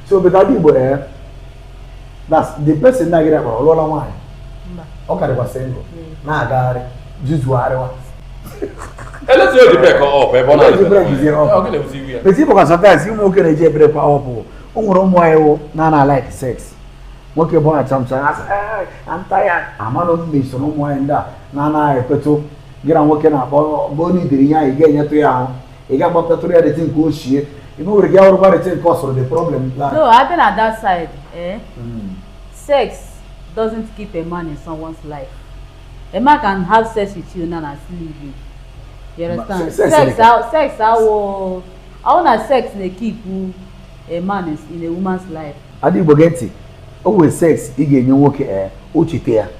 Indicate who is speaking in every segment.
Speaker 1: so obodo adị igbo ee eh, na the person na-agịrị akpara ọ lụọla nwaanyị ọ ka dịkwa single hmm. na-agagharị jizugharịwa
Speaker 2: elezi o the break up ebe ọ na-adịbe
Speaker 1: eti bụ ka sometimes ụmụ nwoke na-eji e break up o nwere ụmụ nwaanyị wụ na na like sex nwoke bịa sometimes I'm tired amanụ m ma i so na ụmụ nwaanyị ndị a na-anaghị ekwetụ gị na nwoke na-akpọ bụ onye idiri ihe anyị ga-enyetụ ya ahụ ị ga-agbapụtatụrụ ya rete nke ochie ime nwere gị awụrụ gba rete nke ọsọrọ the problem plan No, I've been at
Speaker 3: that side. Eh? Mm. Sex doesn't keep a man in someone's life. A man can have sex with you now and still leave you. You Ma- understand? se- sex Sex, nìkan. how, sex, how, how na sex na-ekeep a man in, in a woman's life. Ada Igbo gee ntị
Speaker 1: o nwere sex ị ga-enye nwoke ee o cheta ya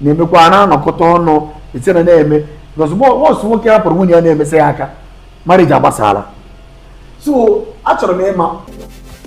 Speaker 1: na-emekwa na-anọkọta ọnụ ise na na-eme ozugbo once nwoke hapụrụ nwunye ya na-emesị ya aka marriage agbasaala so achọrọ m ịma